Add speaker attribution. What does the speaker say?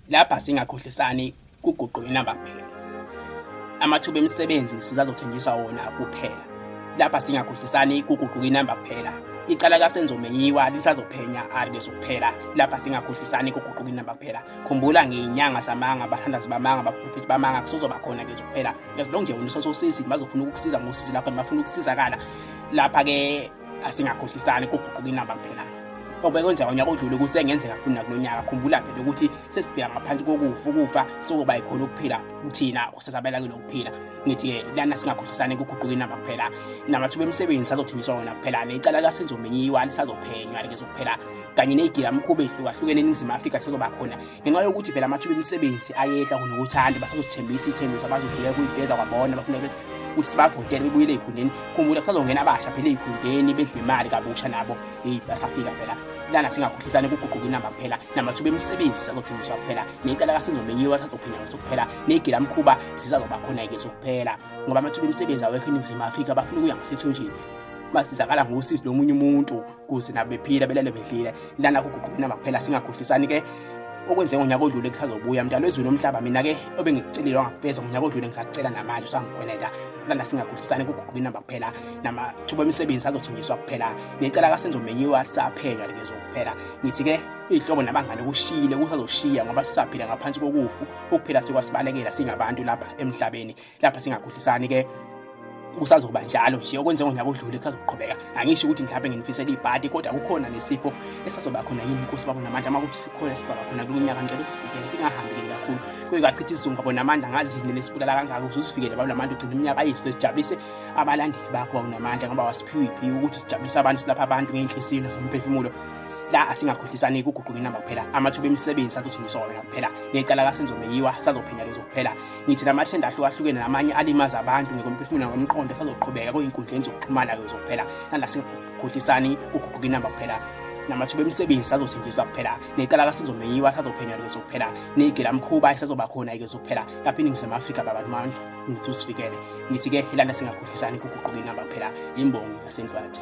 Speaker 1: Lapha singakhohlisani kuguqu inamba kuphela. Amathuba emisebenzi sizazothenjiswa wona kuphela. Lapha singakhohlisani kuguquka inamba kuphela. Icala kaSenzo Meyiwa lisazophenya arke sokuphela. Lapha singakhohlisani kuguquka inamba kuphela. Khumbula ngeyinyanga samanga abathandazi bamanga abaprofethi bamanga kusozoba khona ke zokuphela. As long nje wena usososizi bazofuna ukukusiza ngosizi lakho nibafuna ukusizakala. Lapha ke asingakhohlisani kuguquka inamba kuphela obekwenzeka unyaka odlule kusengenzeka futhi nakulo nyaka khumbula phela ukuthi sesibheka ngaphansi kokufa ukufa sokuba yikhona ukuphila kuthina okusasabela kulo kuphila ngithi-ke lana singakhohlisani kuguquka inamba kuphela namathuba emisebenzi sazothengiswa wona kuphela necala lasizomenyiwa lisazophenywa likezokuphela kanye neyigilamkhuba ehlukahlukene eningizimu afrika sizoba khona ngenxa yokuthi phela amathuba emisebenzi ayehla kunokuthanda basazosithembisa iy'thembiso abazodlula kuyigeza kwabona bafuna bese ukuthi sibavotele bebuyele ey'khundeni khumbula kusazongena abasha phela ey'khundeni bedla imali kabusha nabo eyi basafika phela lana singakhohlisani kuguquka inamba kuphela namathuba emisebenzi sazothengiswa kuphela necala kasinzomenyiwa sazophenya ngaso kuphela negila mkhuba sisazoba khona-ke sokuphela ngoba amathuba emisebenzi awekho eningizimu afrika bafuna ukuya ngasethunjini basizakala ngosizi lomunye umuntu kuze nabo bephila belale bedlile lana kuguqukena makuphela singakhohlisani ke okwenze ngonyaka odlule kusazobuya mdalo ezweni omhlaba mina ke obengikucelile wangakupeza ngonyaka odlule ngisacela namanje usangikweneta lana singakhohlisani kuguquke inamba kuphela namathuba emisebenzi azothenjiswa kuphela ngicela kasenzomenyiwa lisaphenywa lekezo kuphela ngithi ke iy'hlobo nabangane kushile kusazoshiya ngoba sisaphila ngaphansi kokufu ukuphela sikwasibalekela singabantu lapha emhlabeni lapha singakhohlisani ke kusazoba njalo nje okwenze ngonyaka odlule kusazoqhubeka angisho ukuthi mhlawumbe nginifisela ibhadi kodwa kukhona nesifo esazoba khona yini inkosi babo namandla uma ukuthi sikhona sizaba khona kulo nyaka ngicela usifikele singahambeli kakhulu kuye kwachitha isizungu babo namandla ngazini lesibulala kangaka ukuthi usifikele babo namandla ugcina iminyaka yethu sesijabulise abalandeli bakho babo namandla ngoba wasiphiwe iphi ukuthi sijabulise abantu silapha abantu ngenhliziyo nomphefumulo la asingakhohlisani kuguquka inamba kuphela amathuba emisebenzi sathuthindiswa wena kuphela necala kasenzomeyiwa sazophenya lezo kuphela Ngithi la mathenda ahlukahlukene namanye alimaza abantu ngekomphefumulo nangokomqondo asazoqhubeka kuy'nkundleni zokuxhumana kuzokuphela nala singakhohlisani kuguquka inamba kuphela namathuba emisebenzi sazothenjiswa kuphela necala kasenzomenyiwa sazophenywa likezo kuphela negela mkhuba isazoba khona ikezo kuphela lapha iningizimu afrika babantu mandla ngithi usifikele ngithi-ke ilanda singakhohlisani kuguquka inamba kuphela imbongo yasendlwathi